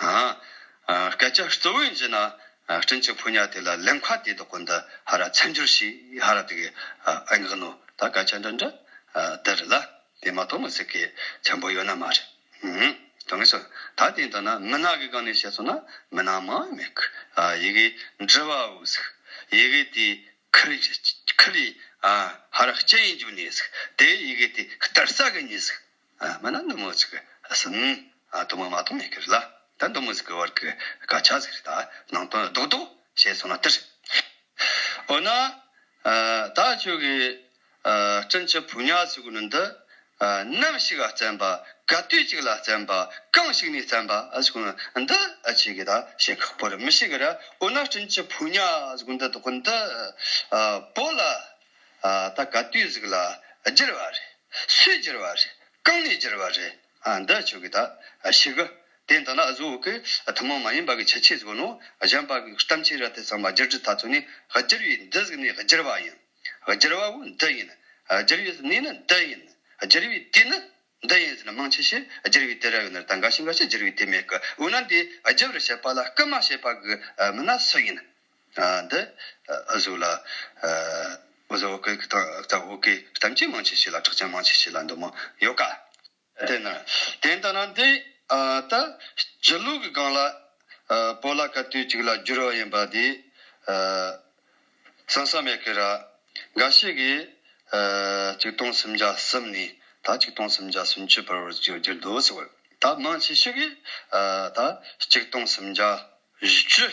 སྐད་ཆ་གཙོ་བོའི་རྗེས་ན་སྤྲིན་ཆེན་ཕོ་ཉ་དེ་ལ་ལེམ་ཁ་དེའི་དོག་གོ་འདི་ཧ་ར་ཚན་འགྱུར་ཞིག་ཧ་ར་དེ་གི་ཨེ་འགག་ནོ་ད་སྐད་ཆ་འདྲ་འདྲ་དེ་རེད་ལ་དེ་མ་གཏོགས་མི་ཚིག་གི་ཆེན་པོ་ཡོད་ན་མ་རེད་དོན་ངེས་སོ་ད་དེ་འདྲ་ན་མི་ནག་གི་སྒང་ནས་བཤད་སོང་ན་མི་ནག་མ་མེད་ཁུ་ཡི་གི་འདྲི་བ་འུ་ཟིག་ཡི་གི་དེ་ཁུ་ལི་ཁུ་ལི་ཧ་ར་སྐྱེ་ཡིན་འགྱུར་ནི་ཟིག་དེ་ཡི་གི་དེ་གཏེར་ས་གི་ནི་ཟིག་མ་ན་ནུ་མོ་ཚིག་ཟིན། དུ་མ་མ་སྟོང་མེད་ཀྱི་རི་ལ། ད་འདུག་མི་ཟིག་གི་བར་གྱི་སྐ་ཆགས་ཟིག་རི་དག་ནང་དོན་རྡོག་རྡོག་བྱས་སོང་ན་ལྟ་ཧྲིག་ཧྲིག་འོ་ན། ད་ཁྱོད་ཀྱི་སྤྲིན་གྱི་བུ་ཉག་ཟིག་གུ་ནུ་འདི་ནམ་ཞིག་བཙན་པ་ག་དུས་ཅིག་ལ་བཙན་པ་གང་ཞིག་ནས་བཙན་པ་ཟིག་གུ་ནུ་འདི་ཁྱེད་ཀྱིས་ད་བཤད་ཁག་པོ་རེད་མི་ཤེས་གི་རེད་འོ་ན་སྤྲིན་གྱི་བུ་ཉག་ཟིག་གུ་འདི་དོག་གི་འདི་པོ་ལ། ད་ག་དུས་གཟིགས་ལ་བསྒྱེལ་བ་རེད། སུས་བསྒྱེལ་བ་རེད། རྐང་ནས་བསྒྱེལ་བ་རེད། འདི་ཆོས་ཀྱི་དག་ཞིག་གི། དེ་འདི་ལ་གཟུ་བོ་ཀྱི་ཐུན་མོང་མ་ཡིན་པ་གྱི་ཁྱད་ཆོས་གཟུ་བོ་ནོ། གཞན་པ་གྱི་གཏམ་ཕྱི་རབས་དེ་ཚང་མ་བསྒྱུར་བྱེད་ད་ཚུགས་ནི་བསྒྱེལ་བས་འདི་གཟིགས་ནས་བསྒྱེལ་བ་ཡིན། བསྒྱེལ་བ་བོ་འདི་ཡིན། བསྒྱེལ་བས་གནས་ནི་འདི་ཡིན། བསྒྱེལ་བས་དུས་ནི་འདི་ཡིན་ཟེར་ན་མང་ཆེ་ཤས་བསྒྱེལ་བས་དེ་ར་བའི་ནི་ད་འགའ་ཞིག་འགའ་ཞིག་བསྒྱེལ་བས་དེ་མེད་གི་འོ་ན་འདི་བསྒྱེལ་བར་བྱེད་པ་ལ་སྐུལ་མ་བྱེད་པ་གྱི་མི་སྣ་སུ་ཡིན། འདི་བཟོ་ལ། བཟོ་བོ་ཁོས་ཁྱི་དང་རྩྭ་བོ་ཁོས་གཏམ་ཅི་མང་བྱས་བྱས་ལ་ཁྲག་ཅི་མང་བྱས་བྱས་ལ་འདུག་མོ་ཡོད་ཀ། དེ་ན་དེ་ལྟ་ན་འདི་ལྟ། སྤྱི་ལུགས་ཀྱི་སྒང་ལ། པོ་ལ་ཀ་དུས་གཅིག་ལ་བསྒྱུར་བ་ཡིན་པ་འདི། བསམ་ས་མེད་ཀི་ར། འགའ་ཞིག་གིས། ཆིག་སྟོང་སུམ་བརྒྱ་གསུམ་ནས་ད་ཆིག་སྟོང་སུམ་བརྒྱ་སུམ་ཅུ་བར་བསྒྱུར་འདུག་ཟེར་བ། ད་མང་ཆེ་ཤོས་ཀྱིས། ད་ཆིག་སྟོང་སུམ་བརྒྱ་བཞི་ཅུ།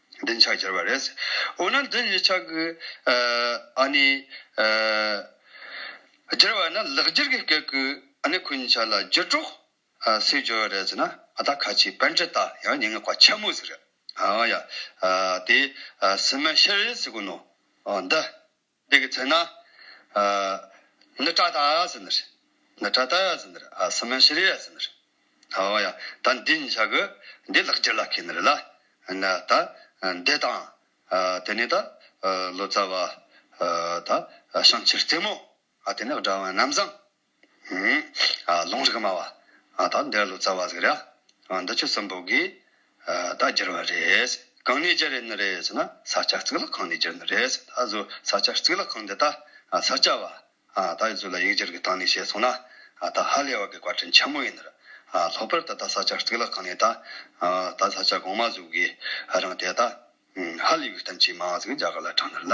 འདི་ནི་ཕྱག་འཁྱེར་བ་རེད། འོ་ན་འདི་ནི་ཕྱག་གི། ཨཱ་ནི། འཁྱེར་བ་ན་ལག་འཁྱེར་གྱི་སྐད་ཀྱི་ཨཱ་ནི་ཁུ་ཕྱག་ལ་རྒྱུ་དྲུག། སེའི་སྦྱོར་བ་རེད་ཟེར་ན་ཨ་ད་ཁ་ཆེའི་བན་ཁྲི་དང་ཡང་ཉེ་ངེ་བཀའ་ཆེན་མོ་ཟེར་རེད། ཨ་ཡ། དེ། སི་མན་ཤེ་རེ་ཟེར་དགོས་ནོ། འདི། འདི་གི་ཚེ་ན། ནི་ཏྲ་ཏཱ་ཡཱ་ཟི་ནི་རི། ནི་ཏྲ་ཏཱ་ཡཱ་ཟི་ནི་རི་ཨ་སི་མན་ཤི་རི་ཡཱ་ཟི་ནི་རི། ཨོ་ཡ། ད་འདི་ཉིད་བྱ་གི། འདི་ལག་འཁྱེར་ལ་ཁེ་ནི་རི་ལ། ན་ད། འདི་དང། དེ་ནས་ད། ལོ་ཙཱ་བ། ད། བྱང་ཆེར་རྩེ་མོ། ཨ་དེ་ནས་དགྲ་བོ་རྣམས་བཟང། ལུང་རིགས་སྨྲ་བ་དག་འདས་ལོ་ཙཱ་བ་ཟིག་ར་འདི་ཆོས་གསུམ་པོ་གིས་བདག་བསྒྱུར་བ་རེད། གང་ནས་བསྒྱུར་ནི་རེད་ཟེར་ན་ས་སྐྱ་གཙུག་ལག་ཁང་ནས་བསྒྱུར་ནི་རེད་ཟེར་ད་གཟོད་ས་སྐྱ་གཙུག་ལག་ཁང་འདི་ད་ས་སྐྱ་བ་དག་གིས་གཟུགས་ལ་ཡིག་སྒྱུར་གྱི་སྟངས་ནས་བཤད་སོང་ན་ད་ཧ་ལས་བ་གི་བཀའ་དྲིན་ཆེན་མོ་ཡིན། ལྷག་པར་ད་ད་ས་སྐྱ་གཙུག་ལག་ཁང་ནས་ད་ད་ས་སྐྱ་གོང་མ་གཟུགས་ཀྱི་རང་དེ་ད་ཧ་ལས་བའི་གཏམ་ཆེས་མང་ཟིག་རྒྱ་གར་ལ་དྲངས་ནི་ལ།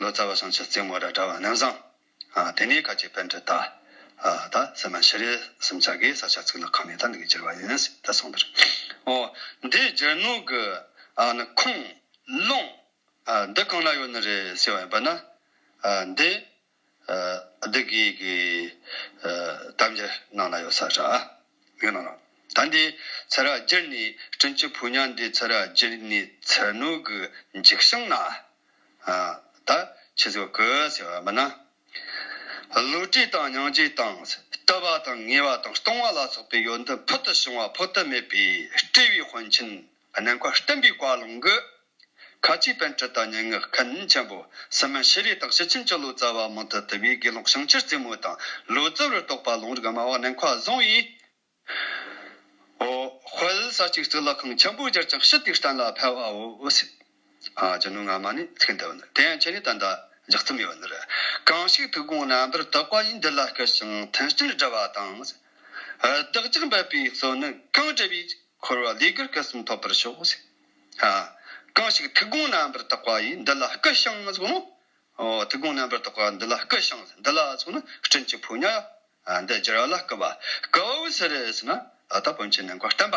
ལོ་ཙཱ་བ་སངས་ཆ་རྩིང་མོ་ར་དྲ་བ་རྣམ་བཟང། དེ་ནས་ཁ་ཆེ་དཔལ་འཕྲུལ་རྟ། ད་སེ་མ་ཤི་རེ་སུམ་ཆ་གིས་ས་ཆ་ཚིག་ལ་ཁག་མེད་ད་འདི་གི་སྦྱར་བ་ཡིན། ད་གསུངས་འདིར། འོ། འདིའི་སྦྱར་ནོར་གི། ནི་ཁུངས། ལུང། འདི་གང་ན་ཡོད་ནི་རེད་ཟེར་བ་ཡིན་པ་ན། འདི། བདུད་བགེགས་ཀྱི་དམ་རྒྱལ་ནང་ན་ཡོད་ས་ར་ཡོད་ན་ར། ད་འདི་ཚེ་ར་རྒྱལ་ནི་སྤྲིན་གྱི་བུ་ཉག་འདི་ཚེ་ར་རྒྱལ་ནི་ཚེ་སྣོད་ཀྱི་འཇིགས་ཤིང་ན་ད་ཁྱི་ཟིག་བརྐུ་ཟེར་བ་མིན་ན། བསླུ་བྲིད་དང་སྙིང་རྗེ་དང་སྐྲུ་བ་དང་ངེས་བ་དང་སྟོང་བ་ལ་སོགས་པའི་ཡོན་ཏན་ཕུལ་དུ་བྱུང་བ་འཕོ་ཐབས་མེད་པས་སྤྲུལ་བའི་དཔོན་ཆེན་གནས་འཁོར་བསྟན་པའི་བཀའ་ལུང་གི། ཁ་ཆེའི་དཔལ་ཁྲི་དང་སྙན་ངག་མཁན་ཆེན་པོ། སྲིད་མི་ཤེས་རིག་དག་ཞི་ཆིན་སྤྱི་ལོ་ཙཱ་བ་མང་ཐུ་དི་བའི་དགེ་སློང་བྱང་ཕྱིར་རྩེ་མོ་དང་ལོ་ཙཱ་བར་གཏོགས་པ་ལུང་རིགས་སྨྲ་བ་གནས་འཁོར་བཟང་བས། ཧོ། དཔལ་ས་གཅིག་གཙུག་ལག་ཁང་ཆེན་པོ་བསྒྱུར་ཅིང་ཞི་བདེའི་གཏན་ལ་ཕེབས་བའོ། ཅི་ནུས་སྔ་མ་ནས་ཚིག་འདི་བ་ནི་དེ་ཡང་ཁྱེད་ནས་ད་ལྟ་འཇགས་རྩིས་མེད་པ་འདིར། གང་ཞིག་ཐུགས་དགོངས་རྣམ་པར་དག་པ་ཡིས་འདི་ལ་སྐུལ་ཞིང་མཐུན་རྐྱེན་བསྒྲལ་བ་དང། བདག་ཅག་འབད་པའི་གསོལ་ནི་གང་བྲལ་བའི་འཁོར་བ་ལས་གུར་སྐུ་གསུམ་ཐོབ་པར་ཤོག། གང་ཞིག་ཐུགས་དགོངས་རྣམ་པར་དག་པ་ཡིས་འདི་ལ་སྐུལ་ཞིང་གསོལ། ཐུགས་དགོངས་རྣམ་པར་དག་པ་འདི་ལ་སྐུལ་ཞིང་འདི་ལ་སོགས་ནི་སྤྲིན་གྱི་ཕོ་ཉ། འདི་སྦྱར་བ་ལ་སྐུལ་བ་སྐུ་བོ་ཟེར། ཨ་ད་བོན་ཆེན་ནི་མགོ་བསྟན་པ།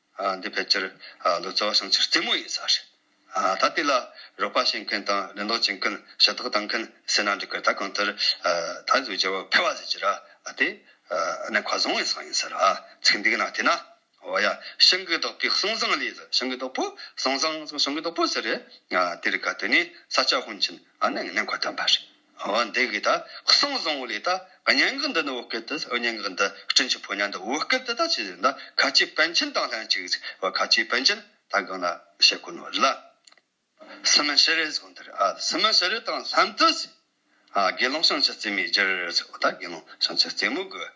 འདི་ཕལ་ཆེར་ལུག་རྩ་བ་བྱང་ཆུ་རྩེ་མོ་ཡིན་ས་རེད། ད་དེ་ལ་རོགས་པ་བྱེད་མཁན་དང་ལེན་ལོག་བྱེད་མཁན་ཞབས་ཏོག་གཏང་མཁན་བསད་ན་འགྲིག་གི་ད་གང་ལྟར་ད་གཟུགས་བྱ་བ་ཕལ་བ་ཟེར་གྱི་ར་དེ་གནས་ཁ་བཟང་བའི་ས་ཡིན་ས་ར་ཚིག་འདི་ག་ན་དེ་ན་འོ་ཡ་ཤིང་གི་རྡོག་པོའི་གསང་བཟང་ལས་ཟེར་ཤིང་གི་རྡོག་པོ་གསང་བཟང་ཟེར་ཤིང་གི་རྡོག་པོ་ཟེར་རེད་དེ་རིག་ག་དེ་ནས་ས་སྐྱ་ཧོན་ཆེན་གནས་ཁ་བསྟན་པ་རེད། བ་འདི་གིས་ད་གསང་བཟང་བོ་ལས་ད་སྙན་ངག་འདི་ནི་བོད་སྐད་དུ་སྙན་ངག་འདི་སྤྲིན་གྱི་ཕོ་ཉ་འདི་བོད་སྐད་དུ་ད་ཅི་ཟེར་ན་ཁ་ཆེའི་པཎ་ཆེན་དང་ལྷན་ཅིག་ཟེར་བ་ཁ་ཆེའི་པཎ་ཆེན་ད་སྒང་ལ་བཤད་དགོས་ནོ་ལ། སི་མན་ཤི་རེ་ཟུང་འདིར་ཨ་སི་མན་ཤི་རེ་དང་ལྷན་དུ་ཟེར། དགེ་སློང་བྱང་ཆུབ་རྩེ་མོའི་རྒྱུར་ཟེར་བ་ད་དགེ་སློང་བྱང་ཆུབ་རྩེ་མོ་དགོས།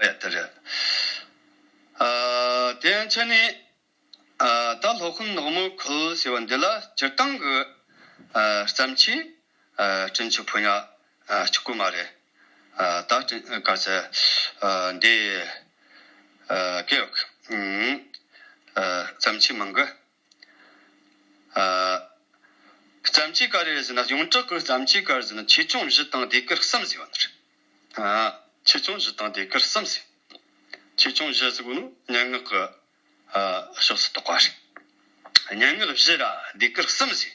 ཨ་ཡ་དེ་རེད། དེ་མཚོན་ནས། ད་ལྷོ་ཁུལ་ནག་མོ་ཁུལ་ཟེར་བ་འདི་ལ་སྤྱིར་བཏང་གི་བརྩམས་ཆོས་བྲིན་ཆོག་ཕོ་ཉ་གཅིག་པུ་མ་རེད། ད་བྲིན་དཀའ་ཚེ་འདི། སྐད་ཡོག་གི་བརྩམས་ཆོས་མང་གི་རྩམ་གྱི་ཀ་རེར་ཟིན་ན་ཡོངས་གྲགས་ཀྱི་རྩམ་གྱི་ཀར་ཟིན་ན་ཆེ་ཆུང་བཞི་དང་དེ་ཀར་གསུམ་ཟེར་བ་ནི་རེད། ཆེ་ཆུང་བཞི་དང་དེ་ཀར་གསུམ་ཟེར་བ། ཆེ་ཆུང་བཞི་ཟེར་བ་ནི་སྙན་ངག་གི་ཕྱོགས་སུ་གཏོགས་པ་རེད། སྙན་ངག་བཞི་ལ་དེ་ཀར་གསུམ་ཟེར།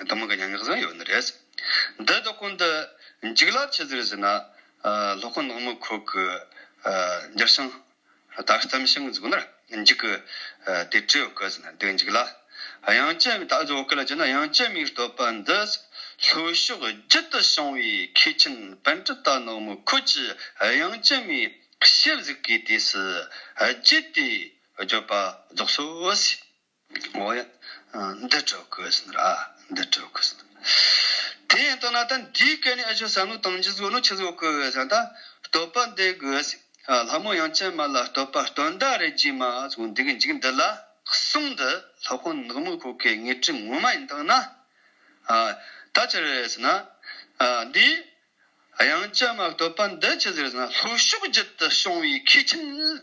གཏི་མུག་གི་མྱ་ངན་བཟང་ཡོད་ནི་རེད། འདི་ལྟ་ཁོང་འདི་འཇིག་རླབས་ཆེ་ཟེར་ཟིན་ན། ལྷོ་ཁོ་ནག་མོ་ཁོག་གི་འགྱིར་ཤིང། དག་གཏམ་ཤིང་འཛུགས་ནར་འཇིག་གི་དེ་སྤྲེའུ་སྐུ་ཟིན་ན་འདི་འཇིག་ལ། དབྱངས་ཅན་མིག་ད་གཟོད་བོད་སྐད་ལ་བྱས་ན་དབྱངས་ཅན་མིག་བསྟོད་པ་འདི་ལྷོ་ཕྱོགས་རྒྱུད་དུ་བྱུང་བའི་མཁས་ཆེན་བན་དྷི་ད་ནག་མོ་ཁོད་ཀྱི་དབྱངས་ཅན་མིག་ཞེ་གཟིགས་ཀྱི་དུས་སུ་རྒྱུད་དེ་བརྗོད་པ་རྫོགས་སོ་ཟིག། འོ་ཡ། འདི་གྲོལ་དགོས་ཟིན་ར། འདི་གྲོལ་དགོས་ཟིན། དེ་ཡིན་དོ་ན་ད་འདིའི་སྐད་ནི་ཨེ་ཆོད་བསམ་བློ་བཏང་རྗེས་གཟུགས་ནོར་ཆེ་བཟོ་དགོས་བས་ད་བསྟོད་པ་འདེབས་དགོས་ཟིན། ལྷ་མོ་ཡང་ཅན་མ་ལ་བསྟོད་པ་སྟོན་ཟླ་རེ་རྗེས་མ་ཟུང་འདི་གི་འཇིག་འདི་ལ་གསུངས་འདི་ལྷ་ཁོ་ནག་མོ་ཁོ་ཁའི་ངེས་དྲི་ངོ་མ་ཡིན་དག་ན། ད་ཅི་རེད་ཟེར་ན། འདི། ཡང་ཅན་མ་བསྟོད་པ་འདི་ཅི་ཟེར་ཟེར་ན་ལྷོ་ཕྱོགས་བརྒྱུད་དུ་བྱུང་བའི་མཁས་ཁྱིམ།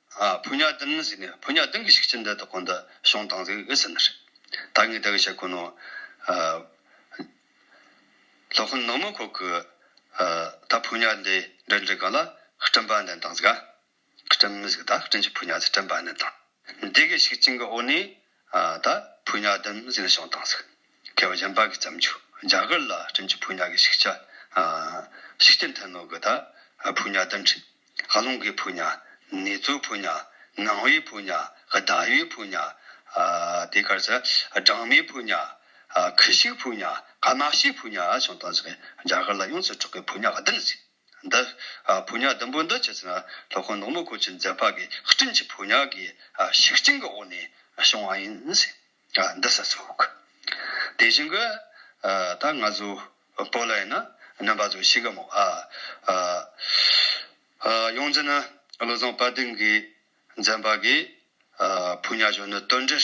ཕུ་ཉག་ལྡིང་ཟེར་ནས་ཕུ་ཉག་ལྡིང་གི་ཤིག་ཅི་འདི་དག་གོ་འདི་ཤོང་དང་ཟེར་གི་ཨི་ཟེར་ན་རེད། ད་ངས་དེ་གི་བཤད་དགོས་ནོ། ལྷོ་ཁུ་ནག་མོ་ཁོ་གི་ད་ཕུ་ཉག་འདི་འདྲི་འདྲི་ག་ལ་སྐྲན་པ་འདན་དང་ཟེར་ག། སྐྲན་མི་ཟེར་གི་ད་སྐྲན་གྱི་ཕུ་ཉག་ཟེར་སྐྲན་པ་འདན་དང། འདི་གི་ཤིག་ཅིང་གི་འོག་ནས། ད་བུ་ཉག་བདུན་བཟི་ལ་ཤོང་དང་ཟིག་ཁེ་བ་གཞན་པ་གི་བརྩམས་ཆོས་རྒྱ་གར་ལ་བྲིན་གྱི་བུ་ཉག་གི་ཤིག་ཆ་ཤིག་ཅན་ཐད་ནོར་གི་ད་བུ་ཉག་བདུན་ཁྲི་ཨ་ལུང་གི་བུ་ཉག་ནེ་ཙོའི་བུ་ཉག་ངང་བའི་བུ་ཉག་གདའ་བའི་བུ་ཉག་དེ་གར་ཚེ་སྦྲང་མའི་བུ་ཉག་ཁི་ཤིག་བུ་ཉག་ག་ནག་ཤིག་བུ་ཉག་ཤོང་དང་ཟིག་རྒྱ་གར་ལ་ཡོངས་སུ་གྲགས་པའི་བུ་ཉག་བདུན་ཟིག། འདི། ཕོ་ཉག་ལྡུམ་པོ་འདི་ཇི་ཙམ་ལྷོ་ཁོངས་ནག་མོ་ཁུལ་གྱི་མཛེས་པ་གི་སྤྲིན་གྱི་ཕོ་ཉག་གི་ཞིག་རྐྱང་གི་འོག་ནས་བྱུང་བ་ཡིན། འདི་ཟེར་ཚུགས། དེ་བཞིན་གི། ད་ང་ཚོ་བོད་ལ་ཡིན་ན་རྣམ་པ་ཚོ་ཞིག་གི་མོ། ཡོངས་འཛིན་ནི་བློ་བཟང་དཔལ་ལྡན་གྱིས་མཛེས་པ་གི་ཕོ་ཉག་གཞོན་ནུ་དོལ་འདྲེར།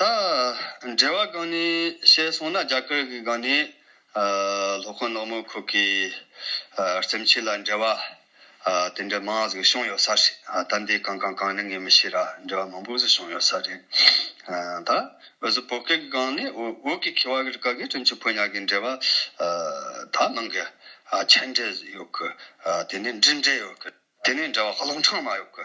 ད་འབྲེལ་བ་གང་ནས་བཤད་སོང་ན་རྒྱ་གར་གི་སྒང་ནས་ལྷོ་ཁོངས་ནག་མོ་ཁུག་གི་རྩེམ་ཆས་ལ་འབྲེལ་བ་དེ་འདྲ་མང་ཟིག་བྱུང་ཡོད་ས་རེད་ད་འདི་གང་གང་གང་ནས་ངས་མི་ཤེས་ར་འབྲེལ་བ་མང་པོ་ཟིག་བྱུང་ཡོད་ས་རེད། ད་འོད་ཟེར་བོད་སྐད་གི་སྒང་ནས་འོད་ཀྱི་ཁེ་བ་གི་རི་ཀ་གི་ཁྲིམས་ཆུ་ཕོ་ཉག་གི་འབྲེལ་བ་ད་ནང་གི་མཆན་འབྲེལ་ཡོད་གི་དེ་ནས་འབྲི་འབྲེལ་ཡོད་གི་དེ་ནས་འབྲེལ་བ་ཧ་ལོང་ཕྲང་མ་ཡོད་གི་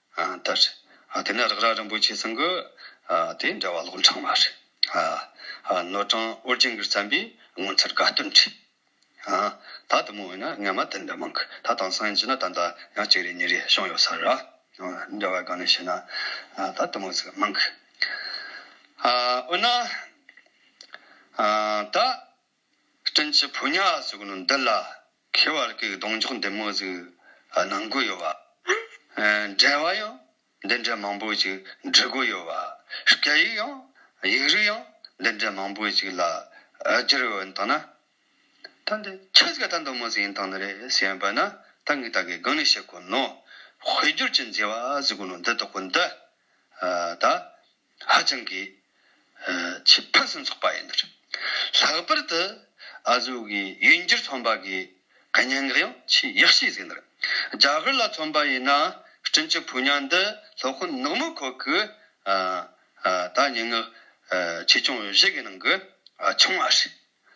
ལྟར། དེ་ནས་རེག་རྭ་རིན་པོ་ཆེ་ཚང་གི། དེ་འདྲ་བ་ལོག་འཕྲང་མར། ནོར་བྲང་ཨོ་རྒྱན་གྱིས་བརྩམས་པའི་ངོ་མཚར་དགའ་སྟོན་བྲིས། ད་དུ་མོ་འོན་ན་ངན་མ་དེ་འདྲ་མང་གི་ད་དང་སང་ཉིན་གྱི་ན་ད་ད་ཡང་གཅིག་རེ་གཉིས་རེ་བྱུང་ཡོད་ས་རེད། འདྲ་བ་གང་ནས་བྱས་ན་ད་དུ་མོ་ཚིག་མང་གི། འོན་ན། ད། སྤྲིན་གྱི་ཕོ་ཉ་སོགས་ནི་འདི་ལ་མཁས་བར་སྐུའི་གདོང་འཇོག་འདི་མོ་ཟིག་ནང་སྒོ་ཡོད་བ། འགྲེལ་བ་ཡང་འདི་འདྲའི་མང་པོ་ཞིག་འབྲི་སྒོ་ཡོད་བ། སྐད་ཡིག་ཡང་ཡིག་རིགས་ཡང་འདི་འདྲའི་མང་པོ་ཞིག་ལ་བསྒྱུར་ཡོད་ཡིན་སྟངས་ན། ད་འདི་ཁྱེད་ཀྱི་ད་འདི་མོ་ཟིག་ཡིན་སྟངས་ནི་རེད་ཞེས་བོས་ན་ད་ངས་ད་གའི་དགོངས་ནས་བཤད་དགོས་ནོ། དཔེ་སྒྱུར་གྱི་མཛེས་བ་ཟེར་དགོས་ནོ་འདི་དོག་པོ་འདི། ད། ཧ་ཅང་གི་ཆེས་ཕུན་སུམ་ཚོགས་པ་ཡིན། ལྷག་པར་དུ་ཨ་ཟོའུ་གི་ཡུལ་འགྱུར་ཚོང་པ་གི་གད་སྙིང་གི་ཡང་ཆེས་ཡག་ཤོས་ཟིག་འདུག་རྒྱ་གར་ལ་ཚོང་པ་ཡིན་ན་སྤྲིན་གྱི་ཕུ་ཉག་འདི་ལྷོ་ཁུ་ནག་མོ་ཁོ་གི་ད་སྙན་ངག་ཆེ་ཆུང་བཞི་གི་ནང་གི་ཆུང་བ་རེད་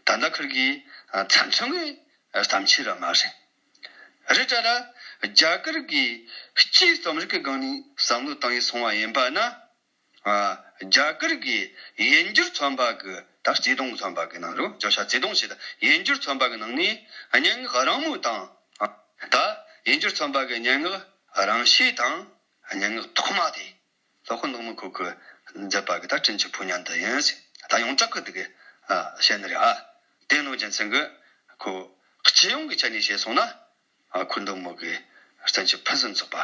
ད་ལྟ་ཁིར་གི་ཚ་མཚོན་གི་གཏམ་ཆེ་ར་མ་རེད། རི་བཀྲ་ལ། རྒྱ་གར་གྱི་སྤྱིའི་རྩོམ་རིག་གི་སྒང་ནས་བསམ་བློ་བཏང་ཡུལ་སོང་བ་ཡིན་པ་ན། རྒྱ་གར་གྱི་ཡན་གྱུར་ཚོན་པ་གི་དང་བརྩེ་དུང་གི་ཚོན་པ་གི་ནང་རུ་བརྗོད་བྱ་བརྩེ་དུང་ཞེས་དང་ཡན་གྱུར་ཚོན་པ་གི་ནང་ནས་སྙན་ངག་རང་མོས་དང། དང། ཡན་གྱུར་ཚོན་པ་གི་སྙན་ངག་རང་ཤེས་དང་སྙན་ངག་ཐོག་མ་དེ། ལྷོ་ཁུ་ནུག་མུ་ཁུ་ཁུ། མཛེས་པ་གི་ད་སྤྲིན་གྱི་བུ་ཉང་འདི་ཡིན། ད་ཡོངས་གྲགས་ཀི་འདི་གི་བཤད་ནི་རེད་ཨ། དེ་གནོད་སྦྱིན་ཚིག་གི་ཁུ། སྤྱི་ཡོངས་ཀི་ཆ་ནས་བཤད་སོང་ན། ཁུ་འདུག་མུག་གི་བཙན་གྱི་ཕུན་སུམ་ཚོགས་པ།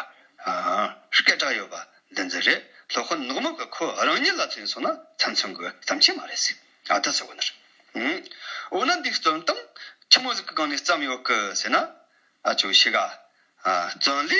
སྐད་གྲགས་ཡོད་པ་འདི་འདི་རེད། ལྷོ་ཁུ་ནུག་མུག་གི་ཁུ་རང་ཉིད་ལ་ཚུད་སོང་ན་ཚན་ཚུན་གི་ཟམ་ཆེན་མ་རེད་ཟེར་ཨ་ད་ཟེར་བ་ནི་རེད། འོ་ན་འདིའི་བརྩོན་སྟངས་ཁྱི་མོ་ཟིག་གི་སྒང་ནས་བརྩམས་ཡོད་གི་ཟེར་ན། ཨ་ཅོ་ཤི་ག། བརྩོན་ལེ།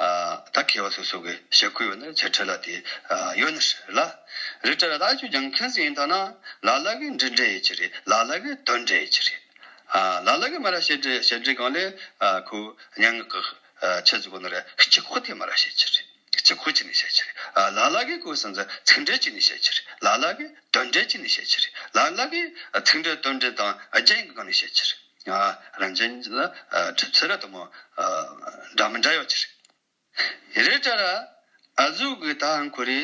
ད་ཁེ་བ་སོ་སོ་གི་ཞེ་ཁུ་ཡོད་ན་ཆེ་ཁྲི་ལ་དེ་ཡོད་ན་ཧྲི་ལ་རི་ཁྲི་ལ་ད་ཁྱོད་ཀྱང་ཁེན་སི་ཡིན་ཐ་ན་ལ་ལ་གི་འབྲི་འབྲི་ཡི་ཆི་རེད་ལ་ལ་གི་དོན་འབྲི་ཡི་ཆི་རེད་ལ་ལ་གི་མ་ར་ཤེ་འབྲི་ཤེ་འབྲི་གང་ལེ་ཁུ་ཉན་ངག་གི་ཆེ་ཚུ་གོ་ན་རེ་སྐྱི་ཁུ་དེ་མ་ར་ཤེ་ཆི་རེད་སྐྱི་ཁུ་ཅི་ནི་ཤེ་ཆི་རེད་ལ་ལ་གི་གུ་སིན་ཟི་ཚིག་འབྲི་ཅི་ནི་ཤེ་ཆི་རེད་ལ་ལ་གི་དོན་འབྲི་ཅི་ནི་ཤེ་ཆི་རེད་ལ་ལ་གི་ཚིག་འབྲི་དོན་འབྲི་དང་རྒྱན་གི་གང་ནི་ཤེ་ཆི་རེད། རང་བྱན་ལ་གྲིབ་ཚེ་ར་དུ་མ། འདྲ་མི་འདྲ་ཡོད་ཅེས། ཡེ་རེ་ཏྲ་ར། ཨ་ཟུག་གི་ད་ཧན་གོ་རི།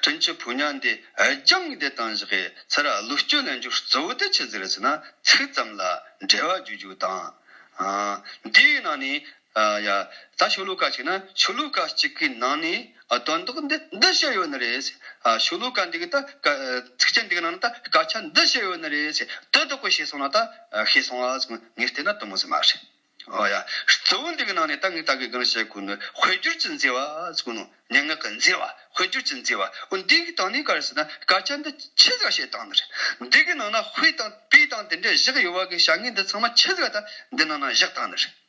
ཀྲིན་ཆི་བུ་ཉག་འདི་རྒྱང་བསྡད་བཏང་བཞག་གི་ཚེ་ར་ལུག་སྐྱོ་ལེན་རྒྱུ་གཙོ་བོ་དེ་ཆི་ཟིག་རེད་ཟེར་ན་ཚིག་ཙམ་ལ་འབྲེལ་བ་བརྗོད་རྒྱུ་དང། འདིའི་ནང་ནས་ཡ། ད་ཆོས་ལུགས་བཀའ་གཅིག་ན་ཆོས་ལུགས་བཀའ་གཅིག་གི་ནང་ནས་དོན་དག་འདི་འདི་བཤད་ཡོད་ནི་རེད། ཆོས་ལུགས་བཀའ་འདི་གི་ད་ཚིག་ཆེན་འདི་གི་ནང་ན་ད་སྐད་ཆ་འདི་བཤད་ཡོད་ནི་རེད། དོན་དག་པོ་ཤེས་སོང་ན་ད་ཤེས་སོང་ཨ་ཙང་ངས་བལྟས་ན་དོན་མོ་ཟེར་མ་རེད། ཨོ་ཡ། གཙོ་བོ་འདི་གི་ནང་ནས་ད་ངས་ད་གི་གང་བཤད་དགོས་ནི་དཔེ་བསྒྱུར་གྱི་མཛེས་བ་ཟེར་གོ་ནོ། སྙན་ངག་གི་མཛེས་བ་དཔེ་བསྒྱུར་གྱི་མཛེས་བ། འོ་འདི་གི་སྟེང་ནས་ག་རེ་ཟེར་ན་སྐད་ཆ་འདི་ཁྱེད་ཟིག་བཤད་སྟངས་འདི་རེད། འདི་གི་ནང་ན་དཔེ་དང་དཔེ་དང་དེ་འདྲས་བཞག་ཡོད་བ་གི་བྱ་ངན་འདི་ཚང་མ་ཁྱེད་ཟིག་ད་འདི་ནང་ན་བཞག་སྟངས་འདི་རེད།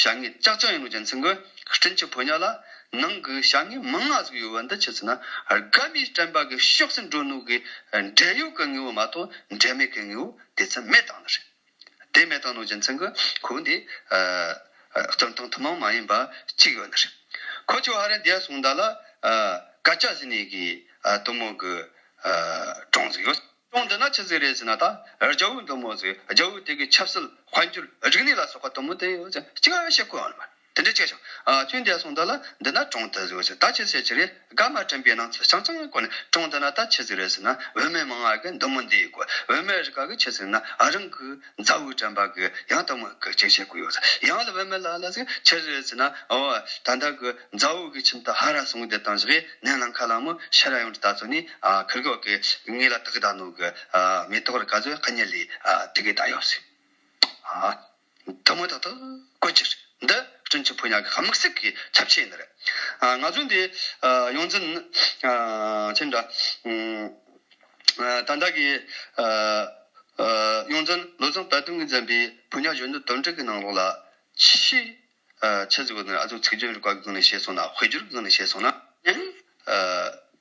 བྱ་ངན་ཅག་ཅག་ཡིན་ནོ་རྒྱལ་མཚན་གྱི། སྤྲིན་གྱི་ཕོ་ཉ་ལ། ནང་གི་བྱ་ངན་མི་མངའ་གཟུགས་ཡོད་བ་འདི་ཆུ་ཚུད་ན། རྒ་མིའི་སྤྲན་པ་གི་ཤོག་སེར་འགྲོ་ནུ་གི། འབྲས་ཡོས་གི་ངེ་བོ་མ་གཏོགས་འབྲས་མེད་གི་ངེ་བོ་དེ་ཚུན་མེད་དང་ནི་རེད། དེ་མེད་དང་ནོ་རྒྱལ་མཚན་གྱི། གོ་འདི། སྟོན་ཐང་ཐུན་མོང་མ་ཡིན་པ་གཅིག་ཡོད་ནི་རེད། ཁོ་ཆུ་ཧ་རན་དེ་གསུངས་ད་ལ། བཀའ་ལྕགས་ཟིན་ནས་གི། གཏུམ་མོ་གི། གྲོང་གཟིགས་ཡོད། ཅུང་བསྡུ་ན་ཆུ་ཟིག་རེད་ཟེར་ན་ད་རྒྱ་འུག་འདུག་མོ་ཟིག་རྒྱ་འུག་དེ་གི་ཆབ་སྲིད་དཔལ་འབྱོར་རིག་གནས་ལ་སོགས་པ་དུམ་བུ་དེ་ཡོད་ཅིག་ཅིག་བཤད་དགོས་ཨང་མོད་དེ་འདྲས་ཆེ་ཞིང་ཆུ་འདས་སོང་འདི་ལ་འདི་ན་གྲོང་དུ་ཟིག་ཟེར་ད་ཆུ་ཟེར་གྱི་རེད་སྒ་མ་དྲན་པའི་སྣང་ཚུལ་ཆང་ཆང་ཡང་གོ་ནས་གྲོང་འདི་ན་ད་ཆུ་ཟིག་རེད་ཟེར་ན་བོད་མི་མང་གི་འདུག་མོ་འདི་གོ་བོད་མི་རིག་ག་གི་ཆུ་ཟིག་ན་རང་གི་མཛའ་བོའི་དྲན་པ་གི་ཡང་དུམ་བུ་གི་ཅིག་བཤད་དགོས་ཡོད་ཟེར་ཡང་ལ་བོད་མི་ལ་ལ་ཟིག་ཆུ་ཟིག་རེད་ཟེར་ན་འོ་ད་ད་གི། མཛའ་བོ་གི་ཁྱིམ་དུ་ཧ་ར་སོང་བསྡད་དང་བཞག་ཡས་ནད་ལངས་ཁ་ལངས་མོ་ཤ་ར་ཡོང་གྲི་ད་ཚོ་ནི་ཁུར་གོག་གི་ངོས་ལ་དག་ད་ནོ་གི་མེ་ཏོག་རི་ག་ཚོའི་ཁ་ཉེ་ལས་དེ་གི་ད་ཡོག་སི་ཐུ་མོ་ད་ཐུ་ཀོ་ཅི་འདི་སྤྲིན་ཆུ་ཕོ་ཉག་གི་ཁ་མིག་སིག་གི་ཁྱབ་ཆས་ཡིན་རེད་ང་ཚོ་འདི་ཡོང་འཛིན་ཁྱིམ་འདྲ་ད་འདྲ་གི་ཡོང་འཛིན་ལོ་ཚང་བལ་སྟོན་གི་འཛིན་པའི་ཕོ་ཉག་གཞོན་ནུ་དོན་གྲུག་གི་ནང་ལོགས་ལ་ཕྱི་ཆོས་ཚིག་གོ་དོན་ཨ་ཚོགས་ཚིག་སྦྱོར་གྱི་བཀའ་གང་ནས་བྱས་སོང་ན་དབུས་སྦྱོར་གི་གང་ནས་བྱས་སོང་ན་ཡང།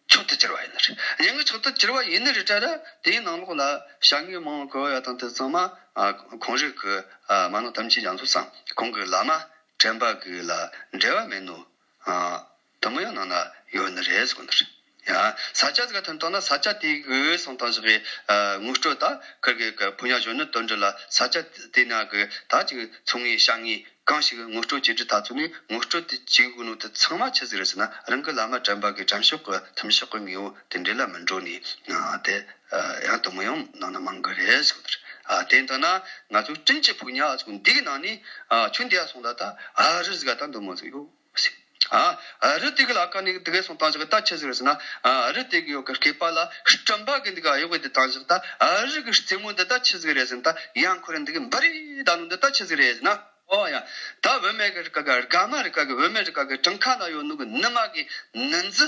མཆོག་ཏུ་གྱུར་བ་ཡིན་ནི་རེད། ཡང་གི་མཆོག་ཏུ་གྱུར་བ་ཡིན་ནི་རེད་དྲ་ར་དེའི་ནང་ལོགས་ལ་བྱ་དངོས་མང་བོ་གོ་ཡ་དང་དེ་ཚང་མ་གོང་རིགས་གི་མ་ནོ་དམ་ཆིས་ཡང་ཚོགས་སམ་གོང་གི་བླ་མ་དྲན་པ་གི་ལ་འབྲེལ་བ་མེད་ནོ། དུམ་བུ་ཡང་ནང་ན་ཡོད་ནི་རེད་ཟེར་གི་འདུག་ས་ཆ་ཟེར་ག་དོན་དོན་ན་ས་ཆ་དེའི་གི་འོས་སྲུང་ཏང་ཞི་བའི་དངུལ་སྤྲོད་དང་ཁུལ་གྱི་གི་བུ་ཉག་གཞོན་ནུ་དོན་དྲུག་ལ་ས་ཆ་དེའི་ནང་གི་དག་ཅིག་ཚུང་ངེ་ཤ་ངེ་གང་ཞིག་དངུལ་སྤྲོད་བྱེད་རྒྱུ་ད་ཚོད་ནས་དངུལ་སྤྲོད་དེ་བྱེད་དགོས་ནོ་དེ་ཚང་མ་ཆི་ཟིག་རེད་ཟེར་ན་རང་གི་བླ་མ་དྲན་པ་གི་དྲན་ཤོག་གི་ཐིམ་ཤོག་གི་ངེ་བོ་དེ་འདྲས་ལ་མི་འགྲོ་ནི་དེ་ཡང་དུམ་བུ་ཡང་ནང་ན་མང་གི་རེད་ཟེར་གི་འདུག་དེ་དོན་ན་ང་ཚོའི་བཀྲིན་ཆེ་བུ་ཉག་ཟེར་གི་འདི་གི་ནང་ནས་ཆུ་འདི་ཡ་སོང་ད་ད་ཨ་རི་ཟེར་ག་ད་འདུག་མོ་ཟེར་གི་ཡོད། རི་དེ་ག་ལ་ཀ་ནི་དེ་གས་སོང་དང་བཞག་ད་ཁྱི་ཟེར་བ་ཟེར་ན་རི་དེ་ག་ཡོ་ག་གས་པ་ལ་སྐྲན་པ་གི་འདི་ག་ཡོ་ག་དེ་དང་བཞག་ད་རི་གི་རྩེ་མོ་འདི་ད་ཁྱི་ཟེར་རེད་ཟེར་ན་ད་ཡང་ཁོ་རེ་འདི་གི་འབའ་རི་ད་ནུ་འདི་ད་ཁྱི་ཟེར་རེད་ཟེར་ན་ཨོ་ཡ། ད་བོད་སྨད་གི་རི་ག་ག་རྒ་མ་རི་ག་གི་བོད་སྨད་རི་ག་གི་བྲང་ཁ་ན་ཡོ་ནུ་གི་ནི་མ་གི་ནི་འཛི་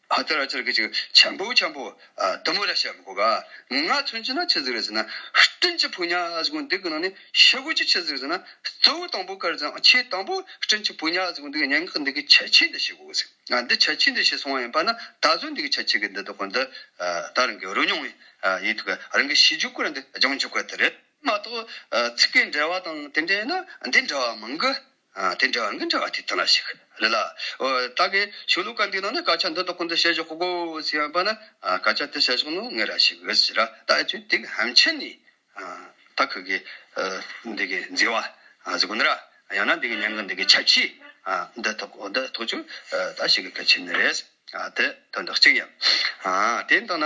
ཨ་ཏི་ར་ཅི་ར་ཀི་ཅིག་ཆམ་པོ་ཆམ་པོ། དུ་མོ་ར་ཤ་མི་ཁོ་ག། ངུ་ངག་མཚོན་གྱི་ན་ཆི་ཟིག་རེད་ཟེར་ན། སྤྲིན་གྱི་བུ་ཉག་ཨ་ཟིག་གོ་འདི་གི་ནང་ནས་ཤི་གོ་ཅི་ཆི་ཟིག་ཟེར་ན། གཙོ་བོ་དང་པོ་དཀར་ཟིག་ཨང་ཆེས་དང་པོ་སྤྲིན་གྱི་བུ་ཉག་ཨ་ཟིག་གོ་འདི་གི་སྙན་ངག་གི་འདི་གི་བྱ་ཕྱི་འདི་ཤི་གོ་ཟིག། འདི་བྱ་ཕྱི་འདི་ཤི་སོང་བ་ཡིན་པ་ན་ད་གཟོད་འདི་གི་བྱ་ཕྱི་གི་འདི་དོ་གོ་འདི་ད་རང་གི་རོ་མྱོང་བའི་ཡིད་ཐུག་ག་རང་གི་ཤི་འཇུག་གོ་ར་འདི་སྦྱང་འཇུག་ག་དེ་རེད་མ་གཏོགས། ཚིག་གི་འབྲེལ་བ་དང་དེ་འདྲས་ན་འདི་འདྲ་བ་མང་གི། དེ་འདྲ་བ་མི་འདྲ་བ་དེ་ལྟ་ན་ཞིག་རེ་ལ། བདག་གིས་ཆོས་ལུགས་ཀ་འདི་ནང་ན་སྐད་ཆ་འདི་དག་ཀུན་ཏུ་བཤད་ཞོག་གོ་ཟེར་བ་པ་ན། སྐད་ཆ་དེ་བཤད་ཞོག་ནོ་ངས་ར་ཞིག་ཟེར་ར་ད་ཨེ་ཆོད་དེ་ཧམ་ཆེན་ནི། ད་ཁུ་གེ། འདི་གི་མཛེས་བ། ཟེར་གོ་ནི་ར། ཡང་ན་འདི་གི་མྱང་གི་འདི་གི་ཆ་ཕྱི། འདི་ཐོག་འོ་འདི་ཐོག་ཆུ། ད་ཞིག་གི་སྐད་ཆེན་ནི་རེད། དེ་དོན་དག་གཅིག་ཡིན། དེ་ལྟ་ན།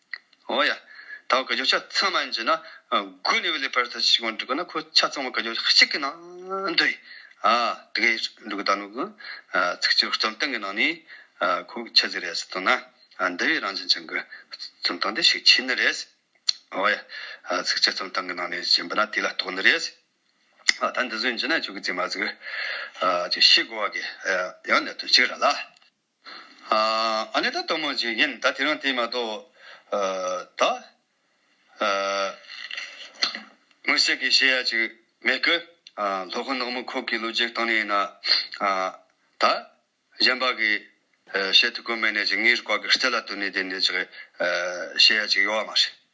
ཨོ་ཡ། ད་བར་ག་རྒྱུ་ཆ་ཚང་མ་འབྱིན་ན་དགུ་ནི་བས་ལས་པར་ཐལ་ཆེ་གང་འགྲིག་གོ་ན་ཁོ་ཆ་ཚང་མ་ག་རྒྱུ་གཅིག་གི་ནང་འདུས་ཨ། དེ་གས་འགྲུག་གི་ད་ནུ་གུ། ཚིག་སྤྱིར་རྩོམ་སྟངས་གི་ནང་ནས་ཁོ་ཆ་ཟིག་རེད་ཟེར་དང་ན་འདི་བས་རང་བྱིན་ཆང་གི་རྩོམ་སྟངས་དེ་ཤུགས་ཆེ་ནི་རེད། ཨོ་ཡ། ཚིག་སྤྱིར་རྩོམ་སྟངས་གི་ནང་ནས་བྱིན་པ་ན་དེ་ལ་གཏོགས་ནི་རེད། ཨ་ད་འདི་ཟོས་འབྱིན་ན་ཁྱོད་ཀྱི་རྩིས་མ་ཟིག། ཨ་ཅིག་ཤི་དགོ་བ་གས་ཡང་ནད་དོན་གཅིག་ར་ལ། ཨ་ནེ་ད་གཏོར་མ་འཇིག་རྒན་ད་དེ་རང་དེ་མ་གཏོགས། ད། དངོས་སེལ་གྱི་བཤད་ཡ་ཅིག་མེད་ཀི། ལྷོ་ཁ་ནག་མོ་ཁོག་གི་ལོ་རྒྱུས་སྟངས་ནས་ཡིན་ན། ད། གཞན་པ་གི། བཤད་ཐུགས་ཁུར་མེད་ནས་ཅིག་ངའི་རུ་ཁག་གི་རྩེ་ལ་བཏོན་ནས་དེ་ནས་ཅིག། བཤད་ཡ་ཅིག་ཡོད་མ་རེད།